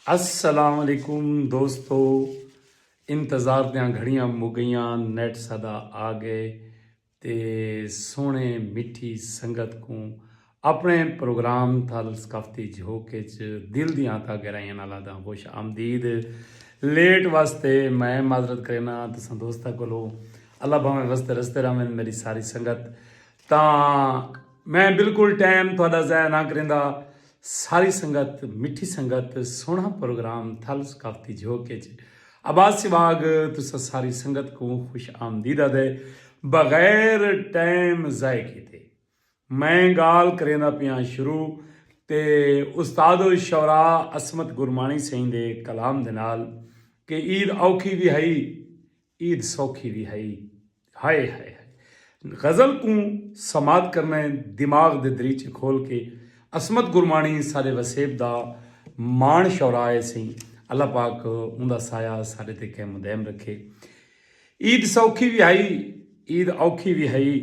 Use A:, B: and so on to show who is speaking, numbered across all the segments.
A: السلام علیکم دوستو انتظار دیاں گھڑیاں مگیاں نیٹ سدا آ گئے تے سونے مٹھی سنگت کو اپنے پروگرام تھل ثقافتی جھوک دل دیاں تا گہرائیاں نال آدھا خوش آمدید لیٹ واسطے میں معذرت کرینا تساں دوستا کولو اللہ بھاویں وستے رستے رہن میری ساری سنگت تاں میں بالکل ٹائم تہاڈا ضائع نہ کریندا ساری سنگت مٹھی سنگت سوہنا پروگرام تھل ثقافتی جھوک اچ عباس سواگ تساں ساری سنگت کوں خوش آمدید آدے بغیر ٹائم ضائع کیتے میں گال کریندا پیاں شروع تے استاد الشعراء عصمت گرمانی سئیں دے کلام دے نال کہ عید اوکھی وی ہئی عید سوکھی وی ہئی۔ ہائے ہائے ہائے۔ غزل کوں سماعت کرنڑے دماغ دے دریچے کھول کے عصمت گرمانی ساڈے وسیب دا ماݨ شورائے سئیں اللہ پاک اوندا سایہ ساڈے تے قائم و دائم رکھے عید سوکھی وی ہئی عید اوکھی وی ہئی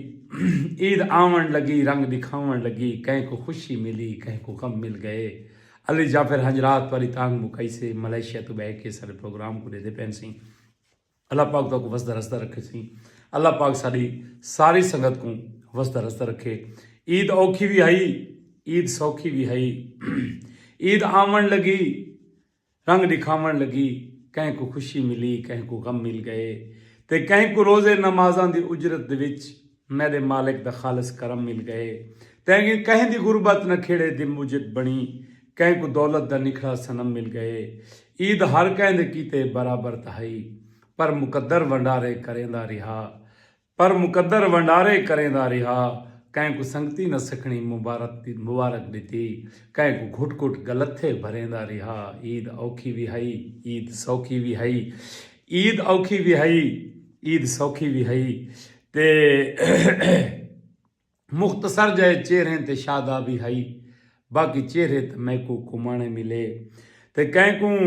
A: عید آونڑ لگی رنگ ڈکھاونڑ لگی کہیں کوں خوشی ملی کہیں کوں غم مل گئے علی جعفر ہنجرات تہاڈی تانگھ مکائی سے ملائیشیا توں بہہ کے ساڈے پروگرام کوں ڈیدھے پین سئیں۔ اللہ پاک تاکو وسدا رسدا رکھے سی اللہ پاک ساری ساری سنگت کو وسدا رسدا رکھے عید اوکھی بھی ہائی عید سوکھی بھی ہائی عید آمن لگی رنگ دکھاون لگی کہیں کو خوشی ملی کہیں کو غم مل گئے تے کہیں کو روزے نمازاں دی اجرت دے وچ میڈے مالک دا خالص کرم مل گئے۔ تیں گیں کہیں دی غربت نہ کھیڑے دی موجب بنڑی۔ کہیں کوں دولت دا نکھڑا صنم مل گئے۔ عید ہر کہیں دے کیتے برابر تاں ہئی۔ پر مقدر ونڈارے کریندا ریہا۔ پر مقدر ونڈارے کریندا ریہا۔ کہیں کوں سنگتی نہ سکھنی مبارک ڈتی۔ کہیں کوں گھٹ گھٹ گلتھے بھریندا ریہا۔ عید اوکھی وی ہئی۔ عید سوکھی وی ہئی۔ عید اوکھی وی ہئی۔ عید سوکھی وی ہئی۔ تے مختصر جائے چہریں تے شادابی ہئی باقی چہرے تے میکو کمانے ملے تے کہیں کوں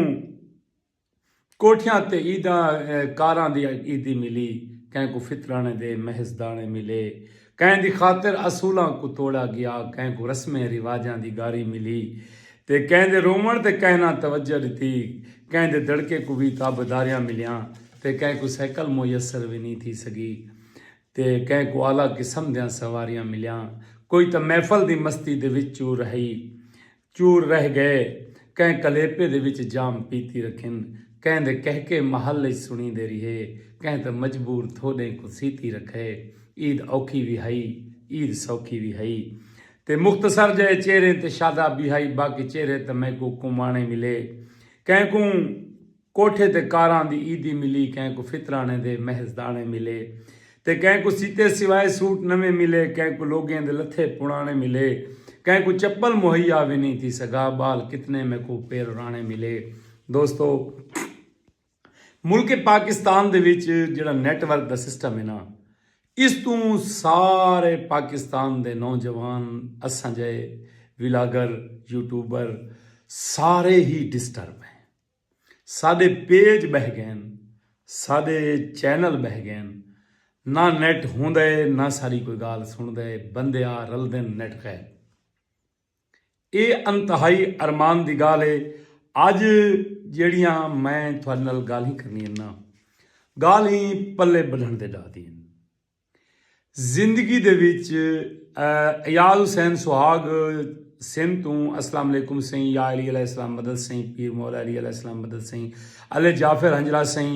A: کوٹھیاں تے عیداں کاراں دی عیدی ملی کہیں کو فطرانے دے محض دانے ملے کہیں دی خاطر اصولاں کو توڑا گیا کہیں کو رسمیں رواجاں دی گاری ملی تے کہیں دے رووݨ تے کہیں نہ توجہ ݙتی، کہیں دے دڑکے کوں وی تابعداریاں ملیاں تے کہیں کوں سائیکل میسر وی نی تھی سڳی تے کہیں کوں اعلی قسم دیاں سواریاں ملیاں، کوئی تاں محفل دی مستی دے وچ چور رہی چور رہ ڳئے، کہیں کلیپے دے وچ جام پیتی رکھن، کہیں دے کہکے محل اچ سݨیندے ریہے، کہیں تاں مجبور تھوݙیں کوں سیتی رکھئے، عید اوکھی وی ہئی، عید سوکھی وی ہئی، تے مختصر جئے چہریں تے شادابی ہائی باقی چہرے تاں میکوں کمانے ملے کہیں کوں کوٹھے تے کاراں دی عیدی ملی کہیں کوں فطرانے دے محض دانے ملے تے کہیں کوں سیتے سوائے سوٹ نویں ملے کہیں کوں لوگیں دے لتھے پڑانے ملے کہیں کوں چپل مہیا وی نئیں تھی سگا بال کتنے میکوں پیررانے ملے دوستو ملک پاکستان دے وچ جیڑھا نیٹ ورک دا سسٹم ہے نا اس توں سارے پاکستان دے نوجوان اساں جئے ولاگر یوٹیوبر سارے ہی ڈسٹرب ہیں ساڈے پیج بہہ گئن ساڈے چینل بہہ گئن نہ نیٹ ہوندے نہ ساڈی کوئی گال سنڑدے بندے آ رلدن نیٹ غیب اے انتہائی ارمان دی گالھ اے اج جیڑھیاں میں تہاڈے نال گالھیں کرنیاں نا گالھیں پلے بدھن دے ڈاہ دیاں ہن۔ زندگی دے وچ ایاز حسین سہاگ سندھ توں اسلام علیکم سئیں یا علی علیہ السلام مدد سئیں پیر مولا علی علیہ السلام مدد سئیں علی جعفر ہنجرا سئیں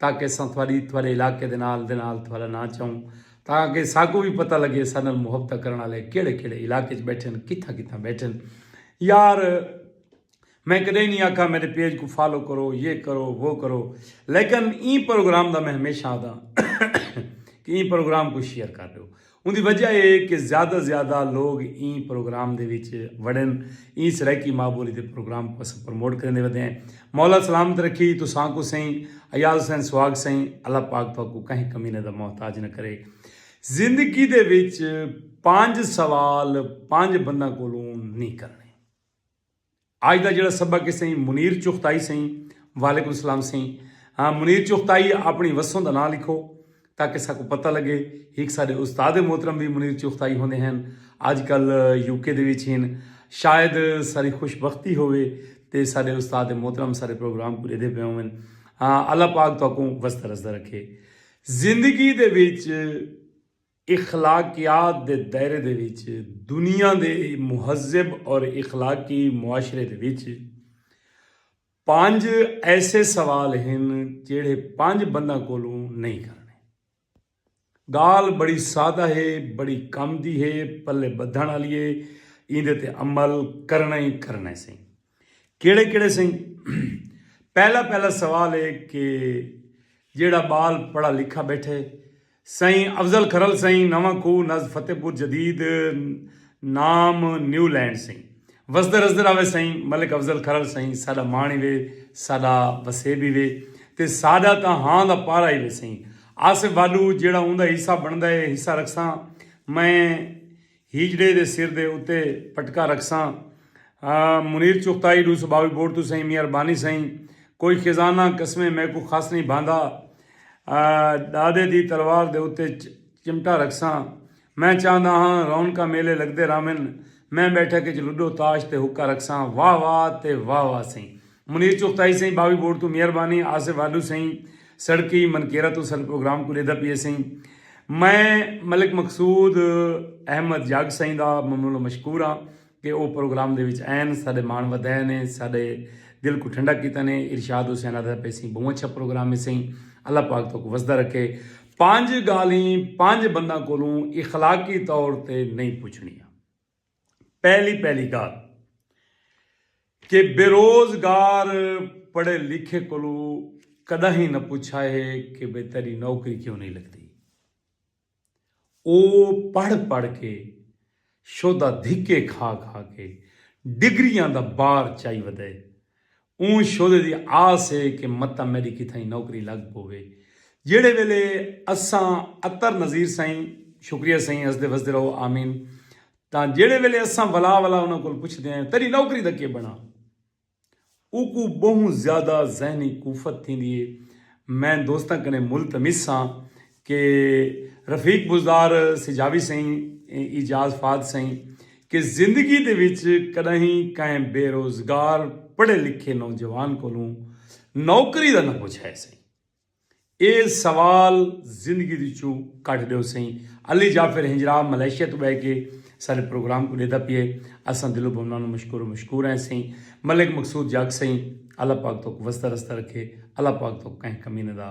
A: تاکہ اساں تہاݙی تہاݙے علاقے دے نال دے نال تہاݙا ناں چاؤں تاکہ ساکوں وی پتہ لڳے اساݙے نال محبتاں کرݨ آلے کیڑھے کیڑھے علاقے اچ ٻیٹھن کتھاں کتھاں ٻیٹھن یار میں کݙاہیں نی آکھاں میݙے پیج کوں فالو کرو یہ کرو وہ کرو لیکن ایں پروگرام دا میں ہمیشہ آہداں کہ ایں پروگرام کوں شیئر کر ݙیو اوندی وجہ اے کہ زیادہ زیادہ لوگ ایں پروگرام دے وچ وڑن۔ ایں سرائیکی ماء بولی دے پروگرام کوں اساں پروموٹ کریندے ودے ہیں۔ مولا سلامت رکھی تساں کوں سئیں ایاز حسین سواگ سئیں اللہ پاک تہاکوں کہیں کمینے دا محتاج نہ کرے۔ زندگی دے وچ پنج سوال پنج بنداں کولوں نی کرنے۔ آج دا جیڑا سبق ہے سئیں منیر چغتائی سئیں وعلیکم السلام سئیں ہاں منیر چغتائی اپنی وسوں دا ناں لکھو تاکہ ساکوں پتہ لگے ہک ساڈے استاد محترم وی منیر چغتائی ہوندے ہن اج کل یو کے دے وچ ہن شاید ساری خوش بختی ہووے تے ساڈے استاد محترم سارے پروگرام کوں ڈیدے پئے ہون ہاں اللہ پاک تاکوں وسدا رسدا رکھے زندگی دے وچ اخلاقیات دے دائرے دے وچ دنیا دے مہذب اور اخلاقی معاشرے دے وچ پنج ایسے سوال ہن جیڑھے پنج بنداں کولوں نہیں کرنے۔ گالھ بڑی سادہ ہے، بڑی کم دی ہے، پلے بدھن آلی ہے، ایندے تے عمل کرنا ہی کرنا سئیں۔ کیڑے کیڑے سئیں؟ پہلا پہلا سوال ہے کہ جیڑا بال پڑھا لکھا بیٹھے سائیں افضل کھرل سائیں نواں کھو نز فتح پور جدید نام نیو لینڈ سائیں وسدر ازدر آوے سائیں ملک افضل کھرل سائیں ساڈا مان ہی وے ساڈا وسیب ہی وے تے ساڈا تاں ہاں دا پارا ہی وے سائیں آصف والو جیڑا اوندا حصہ بندا ہے حصہ رکھساں میں ہیجڑے دے سر دے اتے پٹکا رکھساں۔ منیر چغتائی ݙو سو ٻاوی بورڈ توں سئیں میاں ربانی سئیں کوئی خزانہ قسمیں میکوں خس نئیں بھاندا ݙاݙے دی تلوار دے اتے چمٹا رکھساں میں چاہندا ہاں رونقاں میلے لڳدے رہون میں ٻیٹھک اچ لڈو تاش تے حقہ رکھساں واہ واہ تے واہ واہ سئیں منیر چغتائی سئیں باوی بورڈ توں مہربانی آصف والو سئیں سڑکی منکیرہ توں سر پروگرام کوں ڈیدا پیئے سئیں میں ملک مقصود احمد جاگ سئیں دا ممنون و مشکور ہاں کہ او پروگرام دے وچ آئن ساڈے مان ودھائے نے ساڈے دل کوں ٹھنڈا کیتا نے ارشاد حسین آدھا پئے سئیں بہوں اچھا پروگرام ہے سئیں اللہ پاک توک وسدا رکھے پنج گالیں پنج بنداں کولوں اخلاقی طور تے نہیں پچھنیاں پہلی پہلی گالھ کہ بیروزگار پڑھے لکھے کولو کڈاہیں نہ پچھا ہے کہ بھئی تیڈی نوکری کیوں نہیں لگدی او پڑھ پڑھ کے شودا دھکے کھا کھا کے ڈگریاں دا بار چائی ودے اوں شعلے دی آس اے کہ متاں میڈی کتھائیں نوکری لگ پووے۔ جیڑھے ویلے اساں عطر نذیر سائیں، شکریہ سائیں ہسدے وسدے رہو آمین، تاں جیڑھے ویلے اساں ولا ولا انہاں کول پچھدے ہیں تیڈی نوکری دا کے بنڑا؟ اوکوں بہوں زیادہ ذہنی کوفت تھیندی اے۔ میں دوستاں کنیں ملتمس ہاں کہ رفیق بزدار سجاوی سئیں اعجاز فاد سئیں کہ زندگی دے وچ کݙاہیں کہیں بے روزگار پڑھے لکھے نوجوان کولوں نوکری دا نہ پچھائے سئیں اے سوال زندگی دے وچوں کڈھ ڈیو سئیں علی جعفر ہنجرا ملائیشیا توں بہ کے ساڈے پروگرام کوں ڈیدا پیئے اساں دل و بھونا نو مشکور و مشکور ہیں سئیں ملک مقصود جاگ سئیں اللہ پاک توک وسدا رسدا رکھے اللہ پاک توک کہیں کمینہ دا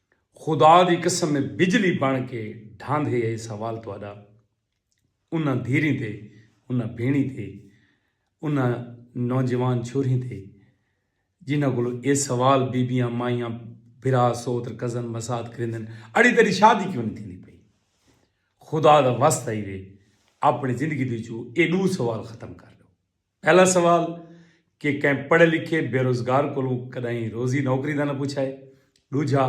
A: خدا دی قسم اے بجلی بݨ کے ڈھاندھے اے سوال تہاݙا انہاں دھیریں تے انہاں بھینڑیں تے انہاں نوجوان چھوریں تے جنہاں کولو اے سوال بیبیاں مائیاں بھرا سوتر کزن مسات کریندن اڑی تیڈی شادی کیوں نی تھیندی پئی خدا دا واسطہ ہیوے اپنی زندگی دے وچوں اے ڈو سوال ختم کر ڈو پہلا سوال کہ کہیں پڑھے لکھے بے روزگار کولوں کݙاہیں روزی نوکری دا نہ پچھا ہے؟ ݙوجھا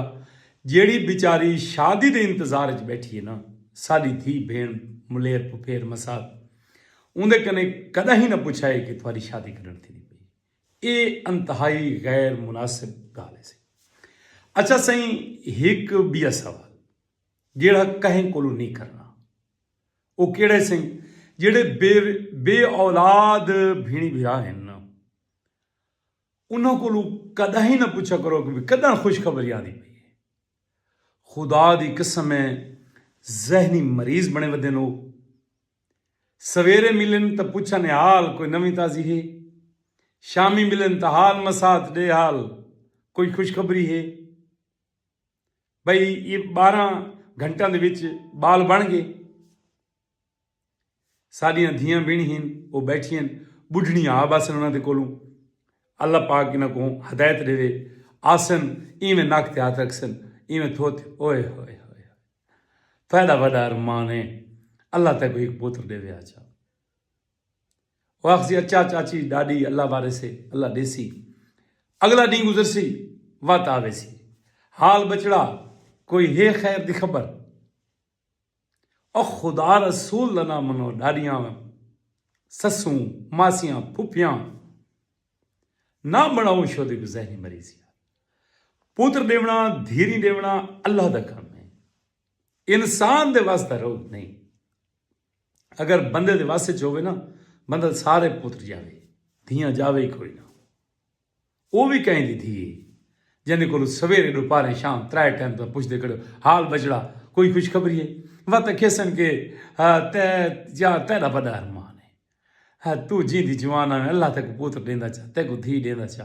A: جیڑھی بیچاری شادی دے انتظار اچ ٻیٹھی ہے نا ساݙی دھی بھیݨ ملیر پھپھیر مسات اوندے کنے کݙاہیں نہ پچھا ہے کہ تھاݙی شادی کݙݨ تھیندی پئی ہے ایہ انتہائی غیر مناسب ڳالھ ہے سئیں اچھا سئیں ہک ٻیا سوال جیڑھا کہیں کولوں نی کرݨا او کیڑھے سئیں جیڑھے بے بے اولاد بھیݨی بھرا ہن نا انہاں کولو کݙاہیں نہ پچھا کرو کہ کݙاں خوش خبری آندی پئی اے خدا دی قسم اے ذہنی مریض بݨے ودن او سویرے ملن تاں پچھن اے حال کوئی نویں تازی ہے شامی ملن تاں حال مسات ݙے حال کوئی خوش خبری ہے۔ بھئی یہ بارہ گھنٹاں دے وچ بال بن گئے ساڈیاں دھیاں بن ہن وہ بیٹھیاں بڈھنی آ بسن انہاں دے کولوں اللہ پاک انہاں کو ہدایت دے آسن ایویں نک تے ہاتھ رکھسن ایویں تھوت اوئے ہوئے ہوئے تہاڈا وڈا ارمان ہے اللہ تے کوئی ایک پوتر دے وے آ جا او آکھسی اچا چاچی ڈاڈی اللہ وارث ہے اللہ ڈیسی اگلا ڈینہہ گزرسی وت آویسی حال بچڑا کوئی ہے خیر دی خبر او خدا رسول دا نہ منو ڈاڈیاں سسوں ماسیاں پھپھیاں نہ بڑاؤں شو دی گزہری مریضی پوتر دیونا دھیری دیونا اللہ دا کام ہے انسان دے واسطہ روگ نہیں اگر بندے دے وس اچ ہووے نا بندہ سارے پتر جاوے دھیاں جاوے ای کوئی نا او وی کہیں دی دھی ہے جیندے کولو سویرے ڈوپاریں شام ترائے ٹائم تاں پچھدے کھڑو حال بچڑا کوئی خوشخبری ہے وت اکھیسن کے تے جا تیڈا وڈا ارمان ہے تو جیندی جوان آویں اللہ تیکو پتر ڈیندا چا تیکو دھی ڈیندا چا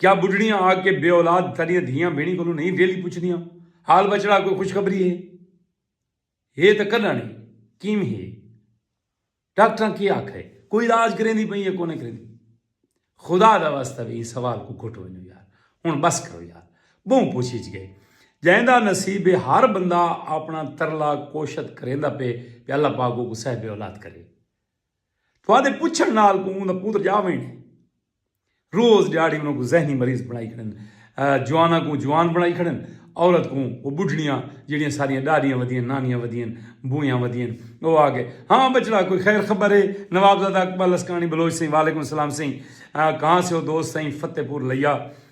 A: کیا بڈھڑیاں آ کے بے اولاد ساڈیاں دھیاں بھینڑیں کولوں نہیں ویلھی پچھدیاں حال بچڑا کوئی خوشخبری ہے ہے تاں کڈاں نی کیویں ہے ڈاکٹراں کے آکھئے کوئی علاج کریندی پئی ہے کونے کریندی خدا دا واسطہ وی ایں سوال کوں گھٹ ونجو یار ہن بس کرو یار بہوں پوچھیچ گئے جیندا نصیب ہے ہر بندہ اپنا ترلا کوشت کریندا پے کہ اللہ پاک کو صاحب اولاد کرے تھوادے پچھن نال کو اوندا پوتر جا وینے روز ڈیہاڑی انہاں کوں ذہنی مریض بنڑائی کھڑن۔ جواناں کوں جوان بنڑائی کھڑن۔ عورت کوں او بڈھڑیاں جیڑھیاں ساڈیاں ڈاڈیاں ودیاں، نانیاں ودیاں، بوئیاں ودیاں۔ او آ گئے۔ ہاں بچڑا کوئی خیر خبر ہے؟ نوابزادہ اقبال لسکانی بلوچ سئیں وعلیکم السلام سئیں کہاں سے ہو دوست سئیں فتح پور لیا۔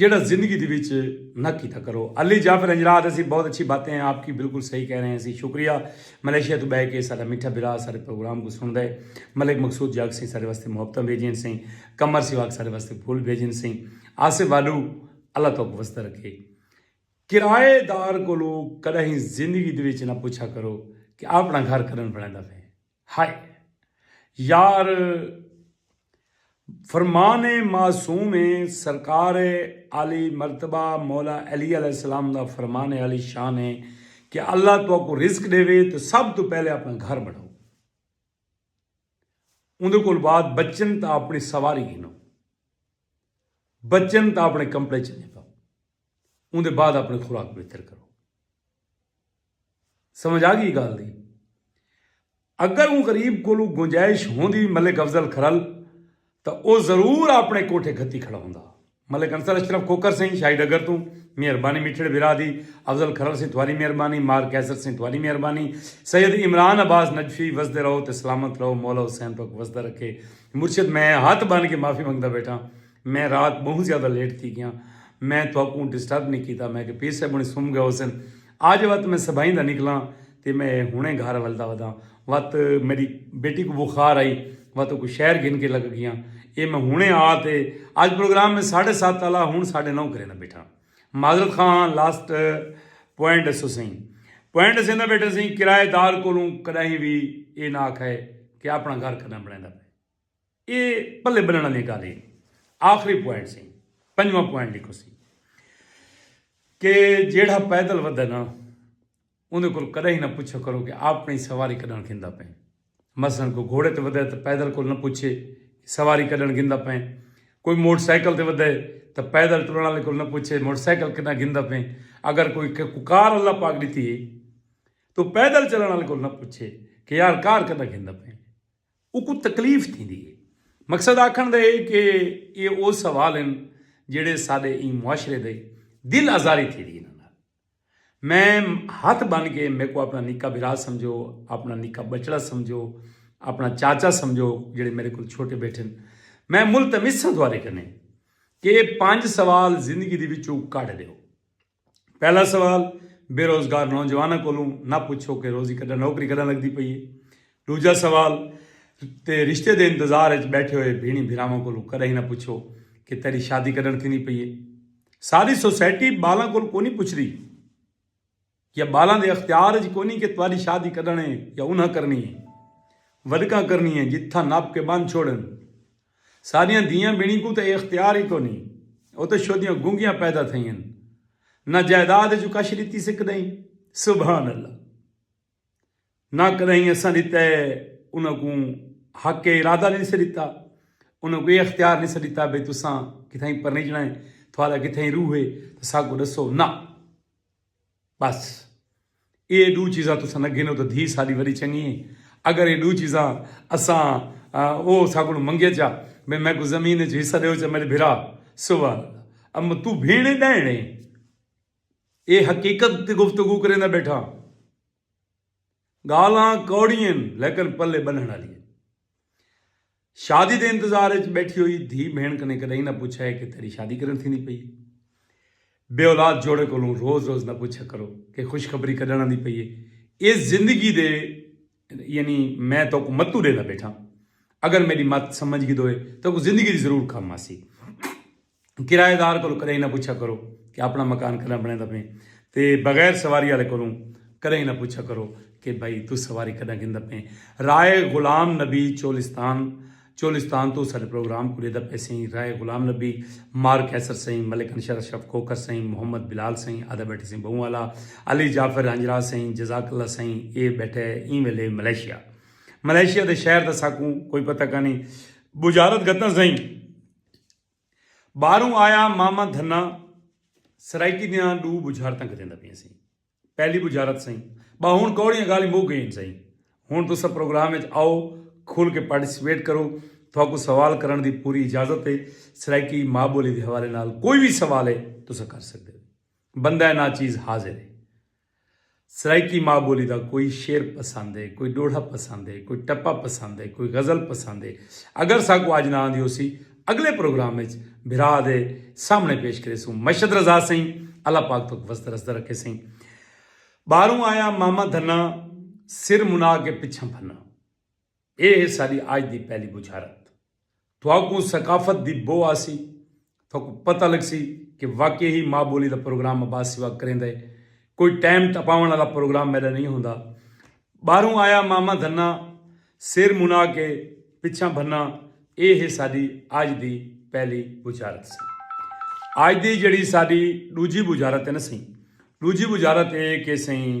A: جیڑھا زندگی دے وچ نہ کیتا کرو۔ علی جعفر ہنجراہ آہدے سی بہت اچھی باتیں ہیں آپ کی بالکل صحیح کہہ رہے ہیں سی شکریہ ملائیشیا توں بہہ کے ساڈا میٹھا بھرا ساڈے پروگرام کوں سنڑ دے ملک مقصود جگ سیں ساڈے واسطے محبتاں بھیجین سیں قمر سواگ ساڈے واسطے پھول بھیجین سیں آصف والو اللہ توک وسدا رکھے کرائے دار کولو کڈاہیں زندگی دے وچ نہ پچھا کرو کہ آپنڑا گھر کڈن بنڑیندا پئے۔ ہائے یار فرمان معصوم اے سرکار عالی مرتبہ مولا علی علیہ السلام دا فرمان عالی شان اے کہ اللہ تہاکوں رزق ݙیوے تاں سب توں پہلے اپݨا گھر بݨاؤ اوندے کول بعد بچن تاں اپݨی سواری گھنو بچن تاں اپݨے کمپڑے چنگے پاؤ اوندے بعد اپݨی خوراک بہتر کرو سمجھ آ گئی گالھ دی۔ اگر اوں غریب کولوں گنجائش ہوندی ملک افضل کھرل تاں او ضرور آپنڑے کوٹھے گھتی کھڑا ہوندا۔ ملک انصر اشرف کھوکھر سئیں شاہی ڈگر توں مہربانی میٹھڑے بھرا دی۔ افضل کھرل سئیں تھواری مہربانی۔ مار قیصر سئیں تھواری مہربانی۔ سید عمران عباس نجفی وسدے رہو تے سلامت رہو مولا حسین تہاکوں وسدا رکھے۔ مرشد میں ہتھ بن کے معافی منگدا بیٹھاں۔ میں رات بہوں زیادہ لیٹ تھی گیاں۔ میں تہاکوں ڈسٹرب نی کیتا۔ میں کہ پیر صاحب ہنڑیں سم گئے ہوسن۔ آج وت میں سبائیں دا نکلاں تے میں ہنڑیں گھر ولدا وداں۔ وت میڈی بیٹی کوں بخار آئی وت اوکوں شہر گھن کے لگ گیاں۔ اے میں ہنڑیں آ تے آج پروگرام میں ساڈھے سات آلا ہنڑ ساڈھے نو کریندا بیٹھاں۔ معذرت خواہ ہاں لاسٹ پوائنٹ اسو سئیں۔ پوائنٹ اسیندا بیٹھاں سئیں کرائے دار کولوں کڈاہیں وی اے نہ آکھائے کہ اپنڑاں گھر کڈاں بنڑیندا پئے۔ اے پلے بنڑن آلی گالھ ہی۔ آخری پوائنٹ سی پنجواں پوائنٹ لکھو سی کہ جیڑھا پیدل ودھے نا اوندے کول کدے ہی نہ پچھو کرو کہ آپنڑی سواری کڈنڑ گھندا پئیں مثلا کوئی گھوڑے تے ودھے تے پیدل کول نہ پچھے کہ سواری کڈنڑ گھندا پئیں کوئی موٹر سائیکل تے ودھے تے پیدل ٹرنڑ آلے کول نہ پچھے موٹر سائیکل کڈنڑ گھندا پئیں اگر کوئی کار اللہ پاک ڈتی ہے تو پیدل چلنڑ آلے کول نہ پچھے کہ یار کار کڈنڑ گھندا پئیں اوکوں تکلیف تھیندی ہے۔ مقصد آکھݨ دا ہے کہ ایہ او سوال ہن جیڑھے ساݙے ایں معاشرے دے دل آزاری تھیندی انہاں نال۔ میں ہتھ بن کے میکوں آپݨا نکا بھرا سمجھو، آپݨا نکا ٻچڑا سمجھو، آپݨا چاچا سمجھو جیڑھے میݙے کولھ چھوٹے ٻیٹھن۔ میں ملتمس ہاں تہاݙے کنیں کہ ایہ پنج سوال زندگی دے وچوں کڈھ ݙیو۔ پہلا سوال بے روزگار نوجواناں کولوں نہ پچھو کہ روزی کڈاں نوکری کڈاں لگدی پئی اے ڈوجھا سوال تے رشتے دے انتظار اچ بیٹھے ہوئے بھینڑیں بھراواں کولوں کڈاہیں نہ پچھو کہ تیڈی شادی کڈن تھیندی پئی اے ساری سوسائٹی بالاں کول کونی پچھدی یا بالاں دے اختیار اچ کونی کہ تواڈی شادی کڈن اے یا انہاں کرنی اے ودکاں کرنی اے جتھاں نپ کے بن چھوڑن ساݙیاں دھیاں ٻنی کوں تاں اے اختیار ای کونھی او تاں شودیاں گنگیاں پیدا تھئی ہن نہ جائیداد اچوں کچھ ݙتی سے کݙاہیں سبحان اللہ نہ کݙاہیں اساں ݙتا ہے انہاں کوں حق ارادہ نی سے ݙتا انہاں کوں اے اختیار نی سے ݙتا بھئی تساں کتھائیں پرنیجݨا ہے تھاݙا کتھائیں روح ہے تاں ساکوں ݙسو نہ بس اے ڈو چیزاں تساں نہ گھنو تاں دھی ساڈی وڈی چنگی اے اگر اے ڈو چیزاں اساں او اساں کولوں منگے چا بھئی میکوں زمین اچ حصہ ڈیو چا میڈے بھرا سبحان اللہ اماں توں بھیݨ اے ڈائنڑ اے اے حقیقت تے گفتگو کریندا بیٹھاں۔ گالھاں کوڑی ہن لیکن پلے بنھنڑ آلی ہن۔ شادی دے انتظار اچ بیٹھی ہوئی دھی بھینڑ کنیں کڈہیں نہ پچھا ہے کہ تیڈی شادی کڈن تھیندی پئی ہے۔ بے اولاد جوڑے کولوں روز روز نہ پچھا کرو کہ خوشخبری کڈن آندی پئی ہے۔ اے زندگی دے یعنی میں توکوں متوں ڈیندا بیٹھاں۔ اگر میڈی مت سمجھ گھدوئے توکوں زندگی دی ضرور کم آسی۔ کرایہ دار کولوں کدھے نہ پچھا کرو کہ اپنا مکان کدھاں بنے دا پیں تے بغیر سواری والے کولوں کدھے نہ پچھا کرو کہ بھائی تو سواری کدھاں گھندا پیں رائے غلام نبی چولستان چولستان تو سارے پروگرام کو ڈیدا پے سائیں رائے غلام نبی مار کیسر سائیں ملک انشر اشرف کوکر سائیں محمد بلال سائیں آدھا بیٹھے سائیں بہوں والا علی جعفر ہنجرا سائیں جزاک اللہ سائیں اے بیٹھے ایں ویلے ملیشیا ملیشیا دے شہر دا ساکوں کوئی پتہ کانی بجارت گتاں سائیں ٻاہروں آیا ماما دھنا سرائیکی دیاں ڈو بجھارتاں گھدیندا پئیں سئیں پہلی بجھارت سئیں با ہن کوڑیاں گالھیں مک گئین سئیں ہن تساں پروگرام وچ آؤ کھل کے پارٹیسپیٹ کرو تھاکوں سوال کرݨ دی پوری اجازت ہے سرائیکی ماء ٻولی دے حوالے نال کوئی وی سوال ہے تساں کر سڳدے او بندہ ناچیز حاضر ہے سرائیکی ماء ٻولی دا کوئی شعر پسند ہے، کوئی ݙوہڑا پسند ہے، کوئی ٹپا پسند ہے، کوئی غزل پسند ہے، اگر ساکوں اڄ نہ آندی ہوسی اڳلے پروگرام اچ بھرا دے سامݨے پیش کریسوں۔ مشد رضا سئیں اللہ پاک تہاکوں وسدا رسدا رکھے سئیں۔ ٻاہروں آیاں ماما دھنا سر منا کے پچھاں بھنا۔ اے ہے ساڈی آج دی پہلی بچھارت۔ تہاکوں ثقافت دی بو آسی، تہاکوں پتہ لگسی کہ واقعی ہی ماء بولی دا پروگرام عباس سیوک کریندا ہے۔ کوئی ٹائم ٹپاونڑ آلا پروگرام میڈا نئیں ہوندا۔ باہروں آیا ماما دھنا، سر منا کے پچھاں بھنا، اے ہے ساڈی آج دی پہلی بچھارت سی۔ آج دی جیڑھی ساڈی ڈوجھی بچھارت ہے نا سئیں، ڈوجھی بچھارت اے ہے کہ سئیں،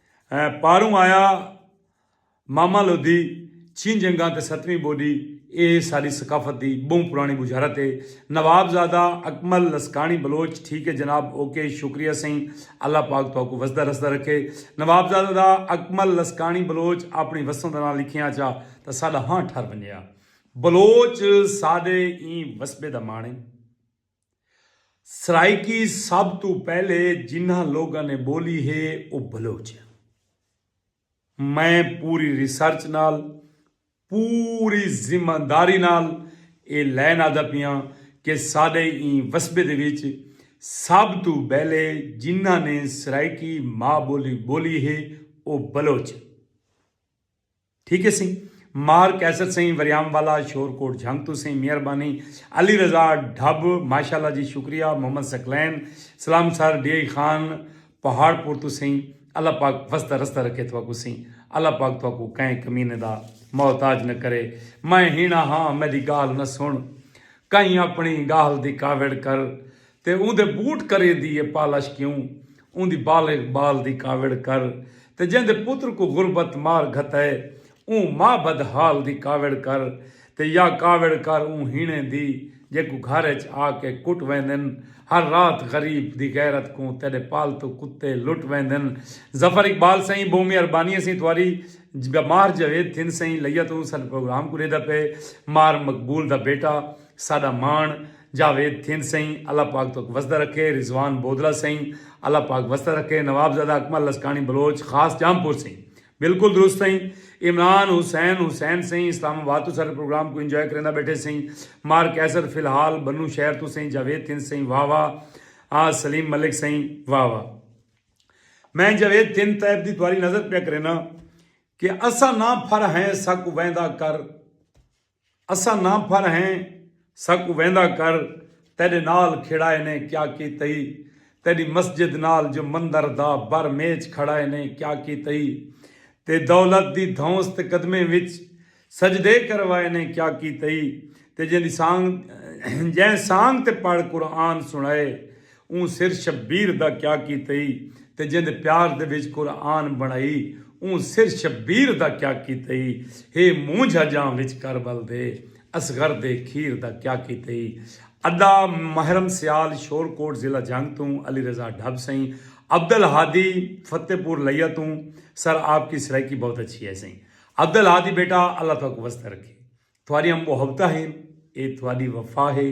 A: ایں پاروں آیا ماما لودھی چھیں جنگاں تے ستویں بولی اے ساڈی ثقافت دی بہوں پرانی بجھارت اے نواب زادہ اکمل لسکاݨی بلوچ ٹھیک اے جناب اوکے شکریہ سئیں اللہ پاک تہاکوں وسدا رسدا رکھے نواب زادہ دا اکمل لسکاݨی بلوچ آپݨی وسوں دا ناں لکھیاں چا تاں ساڈا ہاں ٹھر ونجے ہا بلوچ ساڈے ایں وسبے دا ماݨ اے۔ سرائیکی سب توں پہلے جنہاں لوگاں نے بولی ہے او بلوچ ہے۔ میں پوری ریسرچ نال پوری ذمہ داری نال اے لین آدا پیاں کہ ساڈے ایں وسبے دے وچ سب توں بہلے جنہاں نے سرائیکی ماء بولی بولی ہے او بلوچ ہے۔ ٹھیک ہے سئیں مار قیصر سئیں وریام والا شور کوٹ جھنگ تو سئیں مہربانی علی رضا ڈھب ماشاءاللہ جی شکریہ محمد ثقلین سلام سر ڈی آئی خان پہاڑ پور تو سئیں اللہ پاک وسدا رستہ رکھے تھواکوں سئیں اللہ پاک تھواکوں کہیں کمینے دا محتاج نہ کرے میں ہینا ہاں میڈی گالھ نہ سن کہیں اپنی گالھ دی کاوڑ کر تے اوندے بوٹ کریندی اے پالش کیوں اوندی بالغ بال دی کاوڑ کر تے جیندے پتر کوں غربت مار گھتئے اوں ماء بد حال دی کاوڑ کر تے یا کاوڑ کر اوں ہیݨیں دی جیکوں گھر اچ آ کے کٹ ویندن ہر رات غریب دی غیرت کوں تیڈے پالتو کتے لٹ ویندن ظفر اقبال سئیں بہوں مہربانی اسیں تواری جب ماہر جاوید تھن سئیں لئیا توں ساڈے پروگرام کوں ڈیدا پئے ماہر مقبول دا بیٹا ساڈا ماݨ جاوید تھیند سئیں اللہ پاک توک وسدا رکھے رضوان بودلہ سئیں اللہ پاک وسدا رکھے نواب زادہ اکمل لسکاݨی بلوچ خاص جام پور سئیں بلکل درست سئیں عمران حسین حسین سئیں اسلام آباد توں ساڈے پروگرام کوں انجوائے کریندا بیٹھے سئیں مار قیصر فی الحال بنوں شہر توں سئیں جاوید تھیند سئیں واہ واہ سلیم ملک سئیں واہ واہ میں جاوید تھیند تیب دی تواری نظر پیا کرینا کہ اسا نہ پھر ہیں سا کو ویندا کر اساں نہ پھر ہیں ساکوں ویندا کر تیڈے نال کھیڑائے نے کیا کیتئی تیڈی مسجد نال جو مندر دا بر میچ کھڑائے نے کیا کیتئی تے دولت دی دھونس تے قدمیں وچ سجدے کروائے نے کیا کیتئی تے جیں سانگ جیں سانگ تے پڑھ قرآن سنڑائے اوں سر شبیر دا کیا کیتئی تے جیندے پیار دے وچ قرآن بݨائی اوں سر شبیر دا کیا کیتئی ہے مونجھ اجاں وچ کر ول دے اصغر دے کھیر دا کیا کیتئی ادا محرم سیال شور کوٹ ضلع جھنگ توں علی رضا ڈھب سئیں عبد الہادی فتح پور لیا توں سر آپ کی سرائیکی بہت اچھی ہے سئیں عبد الہادی بیٹا اللہ تہاکوں وسدا رکھے تہاڈیاں محبتاں ہن اے تہاڈی وفا ہے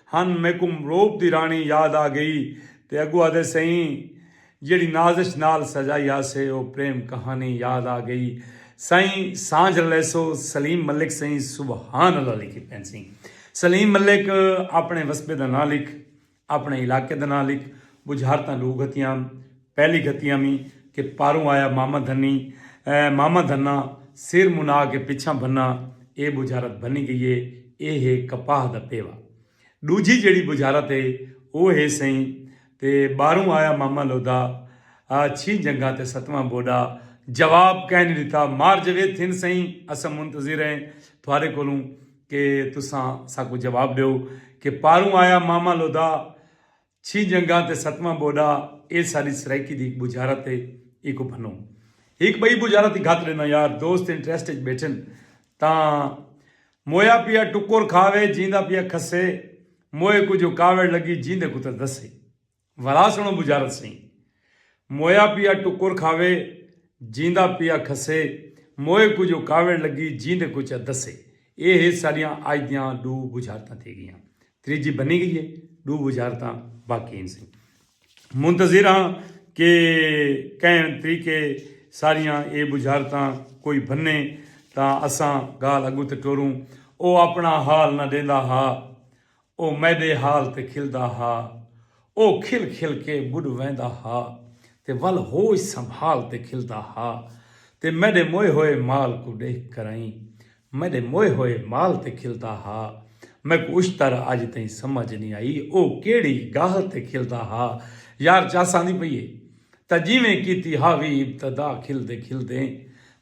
A: ہن میکوں روپ دی راݨی یاد آ گئی تے اگو آدھے سئیں جیڑھی نازش نال سجائی ہاسے او پریم کہانی یاد آ گئی سئیں سانجھ لیسو سلیم ملک سئیں سبحان اللہ لکھی پین سئیں سلیم ملک اپݨے وسبے دا ناں لکھ اپݨے علاقے دا ناں لکھ بجھارتاں ݙو گھتیاں پہلی گھتیاں وی کہ پاروں آیا ماما دھنی اے ماما دھنا سر منا کے پچھاں بھنا اے بجھارت بھنی گئی اے اے ہے کپاہ دا پیوا ڈوجھی جیڑھی بجھارت اے او ہے سئیں تے باروں آیا ماما لودا آ چھی جنگاں تے ستواں بوڈا جواب کہیں نی ڈتا مار جوید تھن سئیں اساں منتظر اے تھوارے کولوں کہ تساں ساکوں جواب ڈیو کہ پاروں آیا ماما لودا چھی جنگاں تے ستواں ٻوݙا اے ساݙی سرائیکی دی ہک ٻجھارت اے ایکوں بھنوں ہک ٻئی ٻجھارت دی گھت ݙینداں یار دوست انٹریسٹ اچ ٻیٹھن تاں مویا پیا ٹکر کھاوے جیندا پیا کھسے موئے کوں جو کاوڑ لڳی جیندے کوں تاں دسے ولا سݨو ٻجھارت سئیں مویا پیا ٹکر کھاوے جیندا پیا کھسے موئے کوں جو کاوڑ لڳی جیندے کوں چا دسے اے ہے ساݙیاں اڄ دیاں ݙو ٻجھارتاں تھی ڳیاں تریجھی بنی گئی ہے ڈو وزارتاں باقی ہیں سی منتظر ہاں کہ کہیں طریقے ساریاں اے وزارتاں کوئی بننے تا اساں گال اگو تے ٹوروں او اپنا حال نہ دیندا ہا او میڈے حال تے کھلدا ہا او کھل کھل کے بڈ ویندا ہا تے ول ہوش سنبھال تے کھلدا ہا تے میڈے موئے ہوئے مال کو ڈیکھ کرائیں میݙے موئے ہوئے مال تے کھلدا ہا۔ میکوں اچ تر اڄ تئیں سمجھ نی آئی او کیڑھی گالھ تے کھلدا ہا۔ یار چس آندی پئی اے تاں جیویں کیتی ہا وی ابتدا کھلدے کھلدے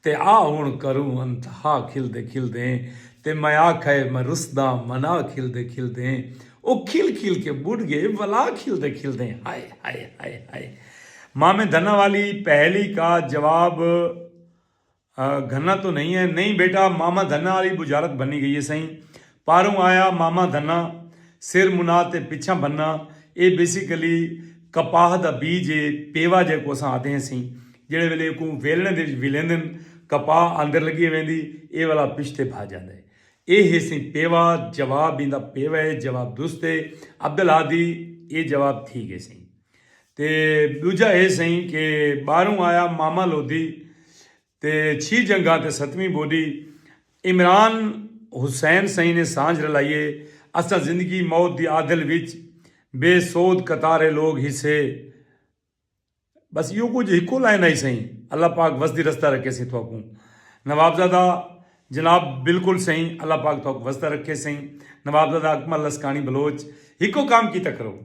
A: تے آ ہݨ کروں انتہا کھلدے کھلدے تے میں آکھئے میں رسداں منا کھلدے کھلدے او کھل کھل کے ٻݙ ڳئے ولا کھلدے کھلدے ہائے ہائے ہائے ہائے مامے دھناں والی پہیلی کا جواب گھنہ تو نہیں ہے۔ نہیں بیٹا ماما دھنہ آلی بجارت بنی گئی ہے سئیں۔ پاروں آیا ماما دھنہ سر منا تے پچھاں بننا اے بیسیکلی کپاہ دا بیج اے پیوا جیکوں اساں آدھے ہیں سئیں۔ جیڑھے ویلے ایکوں ویلݨے دے وچ ولیندن کپاہ اندر لگی ویندی اے والا پچھتے بھا جاندا ہے۔ اے ہے سئیں پیوا جواب ایندا پیوا ہے جواب درست ہے عبدالہادی اے جواب تھی گئے سئیں۔ تے ݙوجھا اے سئیں کہ ٻاہروں آیا ماما لودھی تے چھی جنگھا تے ستویں بوڈی عمران حسین سئیں نے سانجھ رلائی اے اساں زندگی موت دی آدھل وچ بے سود قطارے لوگ ہیسے بس ایہو کجھ ہکو لائن ہئی سئیں اللہ پاک وسدی رسدہ رکھے سئیں تہاکوں نوابزادہ جناب بلکل سئیں اللہ پاک تہاکوں وسدہ رکھے سئیں نوابزادہ اکمل لسکانی بلوچ ہکو کام کیتا کرو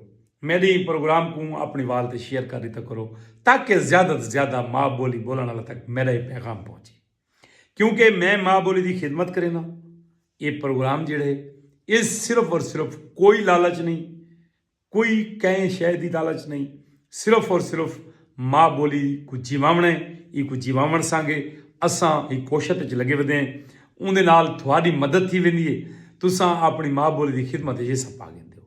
A: میڈی پروگرام کوں اپنی وال تے شیئر کر ڈتا کرو تاکہ زیادہ توں زیادہ ماء بولی بولن والا تک میڈا اے پیغام پہنچے کیونکہ میں ماء بولی دی خدمت کرینا اے پروگرام جڑے اے صرف اور صرف کوئی لالچ نہیں کوئی کہیں شے دی لالچ نہیں صرف اور صرف ماء بولی کو جیواونا ہے ای کو جیواون سانگے اساں ای کوشت وچ لگے ودے ہیں اوندے نال تھوڑی مدد تھی ویندی ہے تساں اپنی ماء بولی دی خدمت وچ حصہ پا گیندے ہو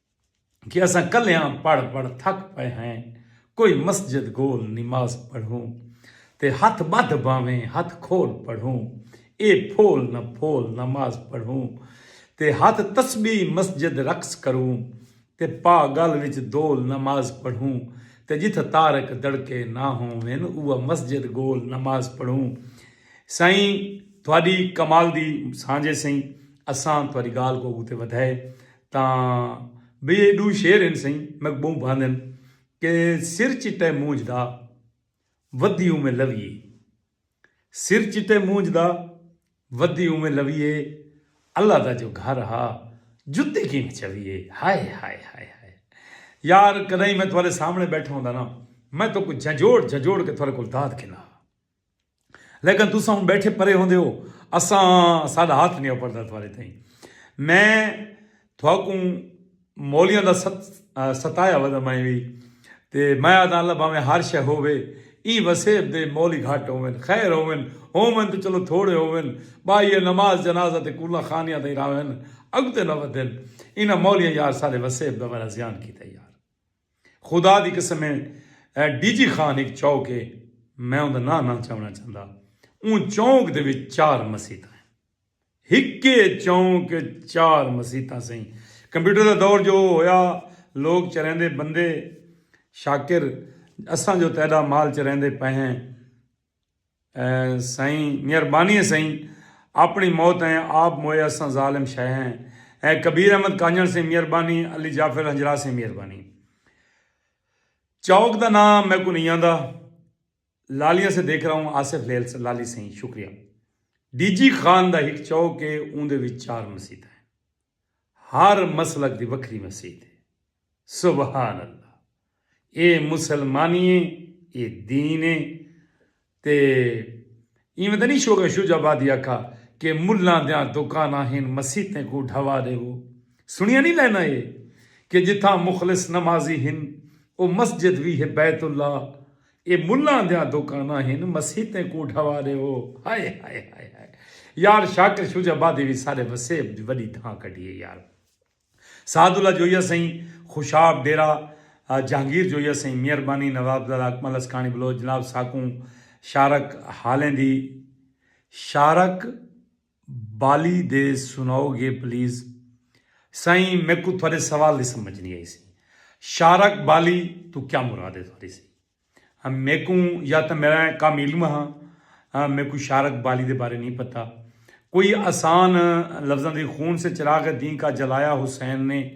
A: کہ اساں کلیاں پڑھ پڑھ تھک پئے ہیں کوئی مسجد گول نماز پڑھوں تے ہتھ بدھ بھانویں ہتھ کھول پڑھوں اے پھول نہ پھول نماز پڑھوں تے ہتھ تسبیح مسجد رقص کروں تے پا گل وچ دول نماز پڑھوں تے جتھ تارک دڑکے نہ ہوون اوہ مسجد گول نماز پڑھوں سائیں تہاڈی کمال دی سانجھے سئیں اساں تہاڈی گال کو اگتے ودھائے تاں وی اے ڈو شعر ہن سئیں میکوں بہوں بھاندن کہ سر چٹے مونجھ دا ودھی اونویں لویے سر چٹے مونجھ دا ودھی اونویں لویے اللہ دا جو گھر ہا جتی کینویں چویے ہائے ہائے ہائے ہائے یار کدائیں میں تہاڈے سامنے بیٹھا ہوندا نا میں تہاکوں جھنجھوڑ جھنجھوڑ کے تہاڈے کول داد گھندا ہا۔ لیکن تساں ہن بیٹھے پرے ہوندے ہو اساں ساڈا ہاتھ نہیں اپڑدا تھارے تھیں میں تھاکوں مولیاں دا ستایا ودا میں وی تے میں آدھا اللہ باویں ہر شے ہووے ایں وسیب دے مولی گھٹ ہوون خیر ہوون ہوون تے چلو تھوڑے ہوون بائی نماز جنازہ تے کولا خانیاں تئیں راون اگتے نہ ودن انہاں مولیاں یار سارے وسیب دا ورا زیان کیتا یار خدا دی قسم اے ڈی جی خان ہک چوک اے میں اوندا ناں نہ چاونا چاہندا اوں چوک دے وچ چار مسیتاں ہن ہکے چوک اچ چار مسیتاں سئیں کمپیوٹر دا دور جو ہویا لوک چریندے بندے شاکر اساں جو تیڈا مال چریندے پئے ہیں۔ سئیں مہربانی اے سئیں آپنڑی موت ایں آپ موئے اساں ظالم شے ہیں اے کبیر احمد کانجنڑ سئیں مہربانی علی جعفر ہنجراہ سئیں مہربانی چوک دا ناں میکوں نئیں آندا لالیاں سے دیکھ رہا ہوں آصف لیل لالی سئیں شکریہ ڈی جی خان دا ہک چوک اے اوندے وچ چار مسیتاں ہیں۔ ہر مسلک دی وکھری مسیت ہے۔ سبحان اللہ اے مسلمانی ہے اے دین ہے تے ایویں تاں نی شوکت شجاع آبادی آکھا کہ ملاں دیاں دوکاناں ہن مسیتیں کوں ڈھوا ڈیوو سنڑیاں نی لائناں اے کہ جتھاں مخلص نمازی ہن او مسجد وی ہے بیت اللہ اے ملاں دیاں دوکاناں ہن مسیتیں کوں ڈھوا ڈیوو ہائے ہائے ہائے ہائے یار شاکر شوج آبادی وی سارے وسیب دی وڈی دھاں کڈھی اے یار سعد اللہ جوئی اسئیں خوشاب ڈیرہ جہانگیر جوئی اسئیں میہربانی نوابزادہ اکمل اسکانی بلوچ جناب ساکوں شارک حالیں دی شارک بالی دے سناؤ گے پلیز۔ سائیں میکوں تہاڈے سوال دی سمجھ نی آئی سی۔ شارک بالی توں کیا مراد ہے تہاڈی سی۔ میکوں یا تاں میڈا کم علم ہا میکوں شارک بالی دے بارے نی پتہ۔ کوئی آسان لفظاں دی خون سے چراغ دین کا جلایا حسین نے۔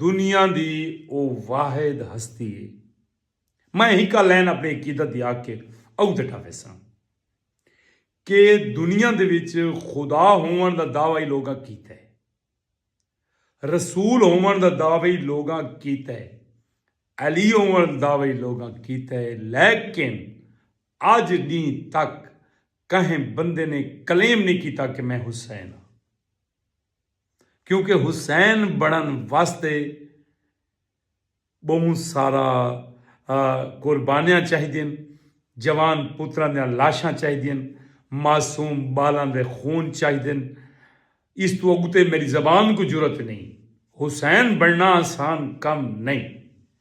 A: دنیا دی او واحد ہستی اے۔ میں ہکا لین اپنی عقیدت دی آکھ کے اؤ تے ٹھاویساں کے دنیا دے وچ خدا ہوون دا دعوی لوگاں کیتا اے۔ رسول ہوون دا دعوی لوگاں کیتا اے۔ علی ہوون دا دعوی لوگاں کیتا اے لیکن اج ڈینھ تک کہیں بندے نے کلیم نی کیتا کے میں حسین آں۔ کیونکہ حسین بنڑن واسطے بہوں سارا قربانیاں چاہیدین، جوان پتراں دیاں لاشاں چاہیدین، معصوم بالاں دے خون چاہیدن، اس توں اگتے میڈی زبان کوں جرات نئیں، حسین بنڑنا آسان کم نئیں۔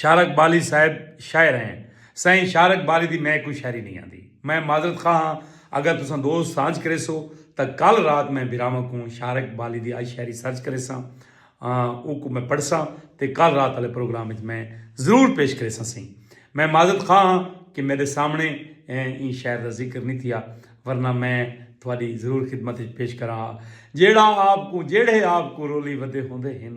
A: شارق بالی صاحب شاعر ہیں۔ سائیں شارق بالی دی میں کوئی شاعری نہیں آندی۔ میں معذرت خواہ ہاں اگر تساں دوست سانجھ کریسو تاں کل رات میں بھراواں کوں شارق بالی دی آئی شاعری سرچ کریساں اوکوں میں پڑھساں تے کل رات آلے پروگرام وچ میں ضرور پیش کریساں سئیں۔ میں معذرت خواہ ہاں کہ میڈے سامنے ایں شاعر دا ذکر نہیں تھیا ورنہ میں تہاڈی ضرور خدمت وچ پیش کراں ہا۔ جیڑھا آپ کوں جیڑھے آپ کوں رولی ودے ہوندے ہن۔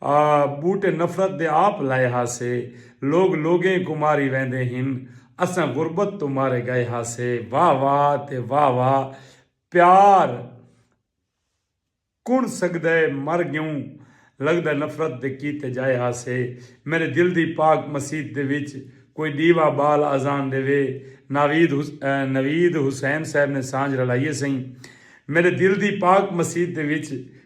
A: آ ٻوٹے نفرت دے آپ لائے ہاسے لوگ لوگیں کوں ماری ویندے ہن اساں غربت توں مارے ڳئے ہاسے واہ واہ تے واہ واہ پیار کݨ سڳدئے مر ڳیوں لڳدئے نفرت دے کیتے ڄائے ہاسے میݙے دل دی پاک مسیت دے وچ کوئی ݙیوا ٻال آذان ݙیوے ناوید نوید حسین صاحب نے سانجھ رلائی ہے سئیں میݙے دل دی پاک مسیت دے وچ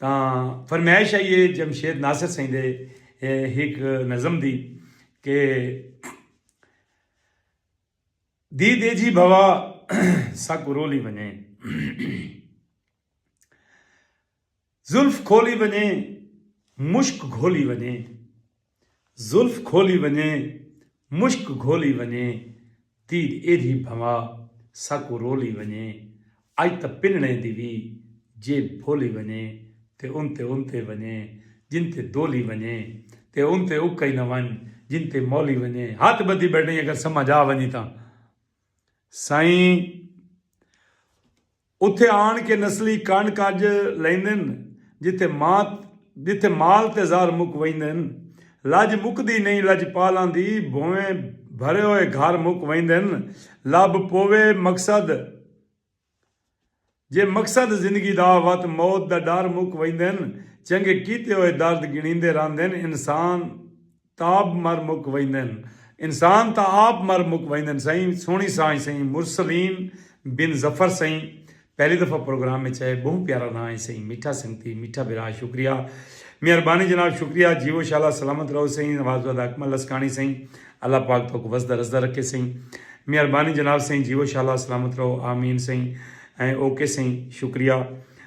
A: تاں فرمائش آئی ہے جمشید ناصر سئیں دے ہک نظم دی کہ دی دے جی بھوا سک رولی بنے زلف کھولی بنے مشک گھولی بنے زلف کھولی ونڄے مشک گھولی ونڄے تیر ایدھی بھنوا ساکوں رولی ونڄے اڄ تاں پنڑیں دی وی جیب بھولی ونڄے تے اونتے اونتے ونڄے جن تے دولی ونڄے تے اونتے اکئی نہ ونڄ جن تے مولی ونڄے ہتھ ٻدھی ٻیٹھیں اگر سمجھ آ ونڄی تاں سائیں اتھے آن کے نسلی کنڈ کج لیندن جتھے ماں جتھے مال تے زر مک ویندن لج مکدی نئیں لجپالاں دی بھونویں بھرے ہوئے گھر مک ویندن لب پووے مقصد جے مقصد زندگی دا وت موت دا ڈر مک ویندن چنگے کیتے ہوئے درد گنڑیندے رہندن انسان تاب مر مک ویندن۔ انسان تاں آپ مر مک ویندن سئیں سوہنی سانجھ سئیں مرسلین بن ظفر سئیں پہلی دفعہ پروگرام اچ آئے بہوں پیارا ناں ہے سئیں میٹھا سنگتی میٹھا بھرا شکریہ مہربانی جناب شکریہ جیوو شالا سلامت رہو سئیں نوازوادہ اکمل لسکاݨی سئیں اللہ پاک توک وسدا رسدا رکھے سئیں مہربانی جناب سئیں جیوو شالا سلامت رہو آمین سئیں اوکے سئیں شکریہ۔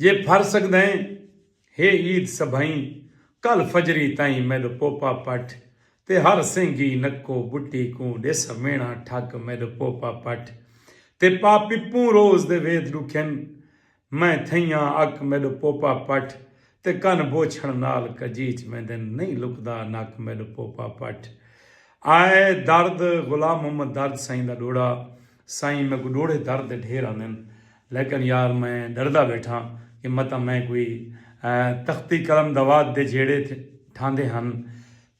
A: جے پھر سگدئیں ہے عید سبھئیں کل فجری تئیں میڈ پوپا پٹھ تے ہر سینگی نکو بٹی کوں ڈیس مینا ٹھک میڈ پوپا پٹھ تے پا پپوں روز دے وید ڈکھن میں تھئیاں اک میڈ پوپا پٹھ تے کن بوچھن نال کجیچ ویندن نئیں لکدا نک میڈ پوپا پٹھ آئے درد غلام محمد درد سئیں دا ڈوڑا۔ سائیں میکوں ݙوڑھے در دے ڈھیر آندن لیکن یار میں ݙردا ٻیٹھاں کہ متاں میں کوئی تختی قلم دوات دے جھیڑے ٹھاندے ہن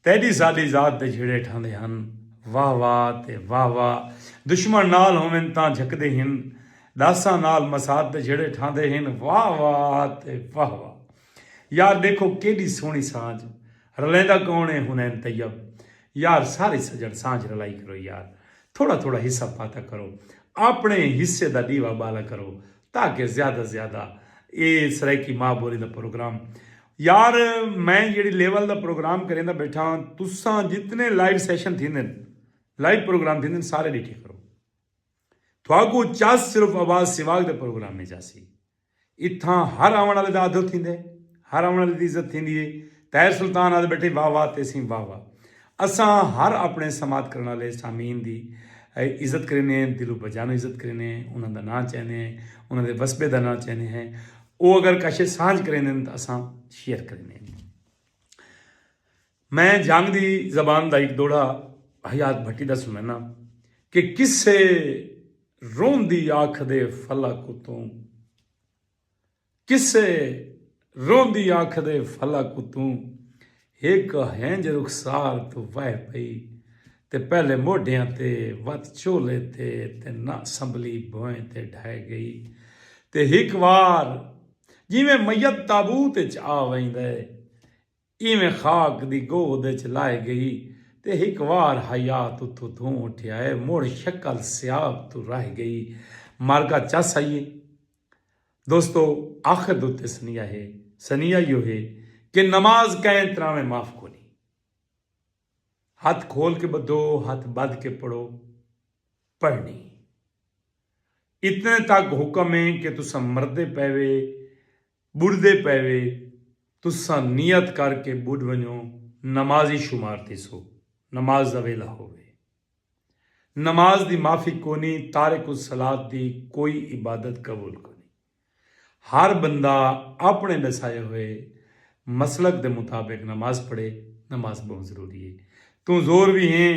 A: تیݙی ساݙی ذات دے جھیڑے ٹھاندے ہن واہ واہ تے واہ واہ دشمن نال ہوون تاں جھکدے ہن ݙاساں نال مسات دے جھیڑے ٹھاندے ہن واہ واہ تے واہ واہ یار ݙیکھو کیݙی سوہݨی سانجھ رلیندا کون اے حنین طیب یار سارے سڄݨ سانجھ رلائی کرو یار تھوڑا تھوڑا حصہ پاتا کرو۔ آپنڑے حصے دا ڈیوا بالا کرو تاکہ زیادہ زیادہ اے سرائیکی ماء بولی دا پروگرام یار میں جیڑھی لیول دا پروگرام کریندا بیٹھا ہاں تساں جتنے لائیو سیشن تھیندن لائیو پروگرام تھیندن سارے ڈیٹھے کرو تھاکوں چس صرف آواز سیواگ دے پروگرام وچ آسی۔ اتھاں ہر آوݨ آلے دا آدھو تھیندے، ہر آوݨ آلے دی عزت تھیندی ہے۔ طاہر سلطان آہدے ٻیٹھے واہ واہ تیسیں واہ واہ۔ اساں ہر آپݨے سماعت کرݨ آلے سامعین دی عزت کریندے ہیں، دل و بجانوں عزت کریندے ہیں، انہاں دا ناں چیندے ہیں، انہاں دے وسبے دا ناں چیندے ہیں۔ او اگر کشے سانجھ کریندن تاں اساں شیئر کریندے ہیں۔ میں جھنگ دی زبان دا ہک دوہڑا حیات بھٹی دا سنڑیناں کہ کسے روندی آکھدے فلک اتوں کسے روندی آکھدے فلک اتوں ہک ہنج رخسار توں وہہ پئی تے پہلے موڈھیاں تے وت چولے تے تے نہ سنبھلی بھوئیں تے ڈھہہ گئی تے ہک وار جیویں میت تابوت اچ آ ویندے ایویں خاک دی گود اچ لائے گئی تے ہک وار حیات اتھوں تھوں اٹھیا اے مڑ شکل سیاب توں رہ گئی مرگا چس آئیے دوستو آخر دے اتے سنیہا ہے سنیہا ایہو ہے کہ نماز کئیں تراویں معاف کونی ہتھ کھول کے بدھو ہتھ بدھ کے پڑھو پڑھنی اتنے تک حکم ہے کہ تساں مردے پیوے ٻݙدے پئے وے تساں نیت کر کے ٻݙ ونڄو نمازی شمار تھیسو نماز دا ویلھا ہووے نماز دی معافی کونی تارک الصلوۃ دی کوئی عبادت قبول کونی ہر بندہ آپݨے ݙسائے ہوئے مسلک دے مطابق نماز پڑھے نماز ٻہوں ضروری ہے توں زور وی ہیں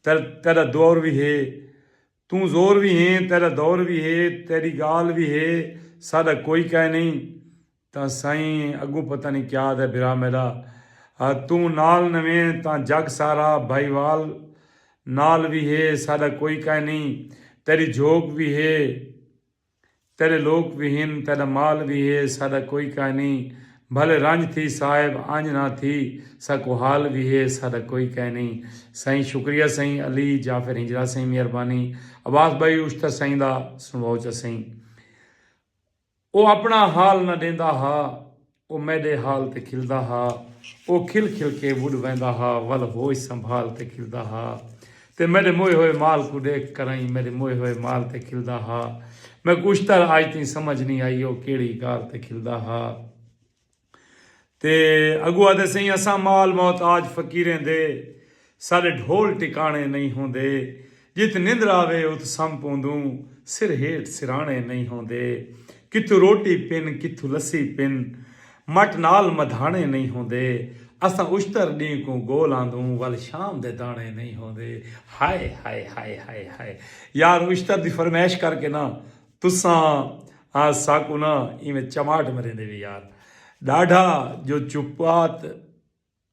A: تیݙا دور وی ہے توں زور وی ہیں، تیڈا دور وی ہے، تیڈی گالھ وی ہے، ساڈا کوئی کائے نئیں تاں سائیں اگوں پتہ نئیں کیا آدھے بھرا میڈا۔ توں نال نویں تاں جگ سارا بھائیوال نال وی ہے، ساڈا کوئی کائے نئیں، تیڈی جھوک وی ہے، تیڈے لوک وی ہن، تیڈا مال وی ہے، ساڈا کوئی کائے نی، بھلے رنج تھی صاحب، انج نہ تھی، ساکوں حال وی ہے، ساڈا کوئی کائے نی۔ سائیں شکریہ سائیں علی جعفر ہنجرا سائیں مہربانی عباس بھائی اوشتر سائیں دا سنڑواؤ چا سائیں او اپنڑا حال نہ ڈیندا ہا۔ او میݙے حال تے کھلدا ہا او کھل کھل کے وݙ ویندا ہا ول ہوش سنبھال تے کھلدا ہا تے میݙے موئے ہوئے مال کوں ݙیکھ کرئیں میݙے موئے ہوئے مال تے کھلدا ہا میک اشتر اڄ تئیں سمجھ نئیں آئی او کیڑھی گال تے کھلدا ہا تے اڳوں آہدے سئیں اساں مال محتاج فقیریں دے۔ ساݙے ڈھول ٹکاݨے نئیں ہوندے۔ جت نندر آوے ات سم پوندوں۔ سر ہیٹھ سراݨے نئیں ہوندے۔ کتھوں روٹی پن کتھوں لسی پن۔ مٹ نال مدھاݨے نئیں ہوندے۔ اساں اشتر ݙینہہ کوں گول آندوں ول شام دے داݨے نئیں ہوندے۔ ہائے ہائے ہائے ہائے ہائے یار اشتر دی فرمائش کر کے نہ تساں ساکوں نہ ایویں چماٹ مریندے وی یار۔ ݙاڈھا جو چپات۔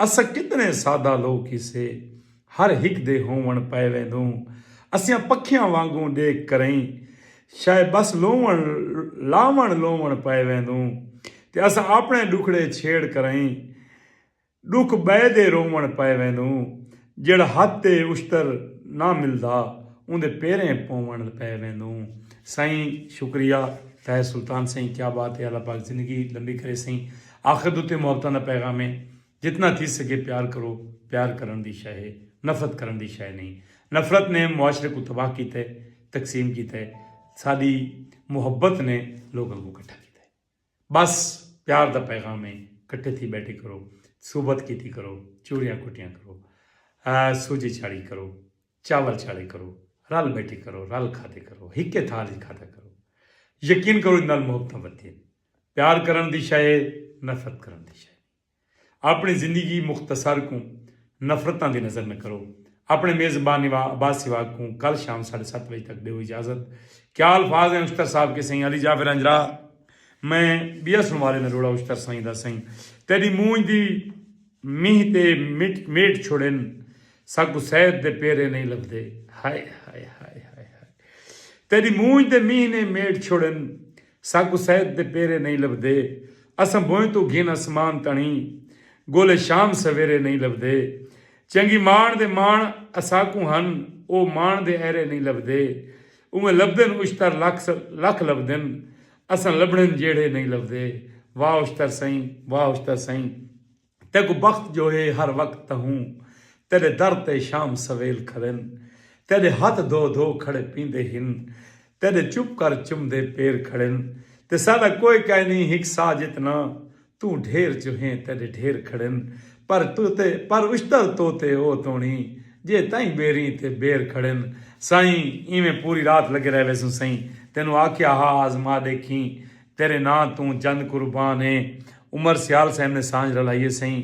A: اساں کتنے سادہ لوک کیسے ہر ہک دے ہوون پئے ویندوں اسیاں پکھیاں وانگوں ڈیکھ کرئیں شئے بس لوون لاون لوون پئے ویندوں تے اساں اپنے ڈکھڑے چھیڑ کرئیں ڈکھ بئے دے روون پئے ویندوں جیہڑا حد تے اشتر نہ ملدا اوندے پیریں پوونڑ پے ویندوں سائیں شکریہ تہہ سلطان سائیں کیا بات ہے اللہ پاک زندگی لمبی کرے سائیں آخر دے اتے محبتاں دا پیغام ہے جتنا تھی سگے پیار کرو پیار کرن دی شے ہے نفرت کرن دی شے نہیں نفرت نے معاشرے کوں تباہ کیتا ہے تقسیم کیتا ہے ساڈی محبت نے لوکاں کوں کٹھا کیتا ہے۔ بس پیار دا پیغام ہے کٹھے تھی بیٹھے کرو صحبت کیتی کرو چوریاں کٹیاں کرو سوجھے چاڑھی کرو چاول چاڑھے کرو رل بیٹھے کرو رل کھادے کرو ہکے تھال وچ کھادا کرو یقین کرو نال محبتاں ودھدین پیار کرن دی شے نفرت کرن دی شے اپݨی زندگی مختصر کوں نفرتاں دی نظر نہ کرو۔ اپݨے میزبان نوا عباس سیواگ کوں کل شام ساڈھے ست وجے تک ڈیو اجازت۔ کیا الفاظ ہیں اشتر صاحب کے سئیں علی جعفر ہنجراء میں بیا سنوارے نہ روڑا اشتر سئیں دا سئیں تیڈی مونجھ دی مینہہ تے میٹ چھوڑن ساکوں سید دے پیرے نئیں لبھدے ہائے ہائے ہائے ہائے ہائے تیڈی مونجھ دے مینہہ نے میٹ چھوڑن ساکوں سید دے پیرے نئیں لبھدے اساں بھوئیں توں گھن اسمان تݨیں ڳولے شام سویرے نئیں لبھدے چنڳی ماݨ دے ماݨ اساکوں ہن او ماݨ دے ایرے نئیں لبھدے اونویں لبھدن اشتر لکھ لکھ لبھدن اساں لبھڑن جیڑھے نئیں لبھدے واہ اشتر سئیں واہ اشتر سئیں۔ تیکوں بخت جو ہے ہر وقت تہوں تیڈے در تے شام سویل کھڑن تیڈے ہتھ دھو دھو کھڑے پیندے ہن تیڈے چپ کر چمدے پیر کھڑن تے ساڈا کوئے کائے نیں ہک سا جتنا توں ڈھیر جو ہیں تیڈے ڈھیر کھڑن پر توتے پر اشتر توتے او توڑی جے تائیں بیریں تے بیر کھڑن۔ سائیں ایویں پوری رات لگے رہ ویسوں سائیں تینوں آکھیا ہا آزما ڈیکھیں تیرے ناں توں جند قربان اے۔ عمر سیال صاحب نے سانجھ رلائی ہے سئیں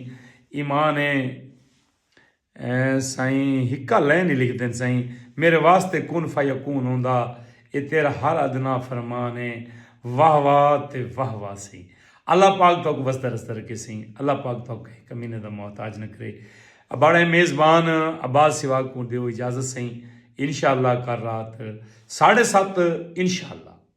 A: ایمان اے سائیں ہکا لین ہی لکھ دین سائیں میرے واسطے کن فیکون ہوندا اے تیرا ہر ادنی فرمان اے واہ واہ تے واہ واہ سئیں اللہ پاک تہاکوں وسدا رسدا رکھے سئیں اللہ پاک تہاکوں کہیں کمینے دا محتاج نہ کرے اباڑا اے میزبان عباس سیواگ کوں ڈیو اجازت سئیں انشاءاللہ کر رات ساڑھے ست انشاءاللہ۔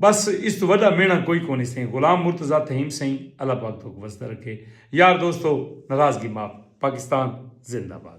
A: بس اس توں وڈا مینڑاں کوئی کونی سئیں غلام مرتضی تھہیم سئیں اللہ پاک تہاکوں وسدا رکھے یار دوستو ناراضگی معاف پاکستان زندہ باد۔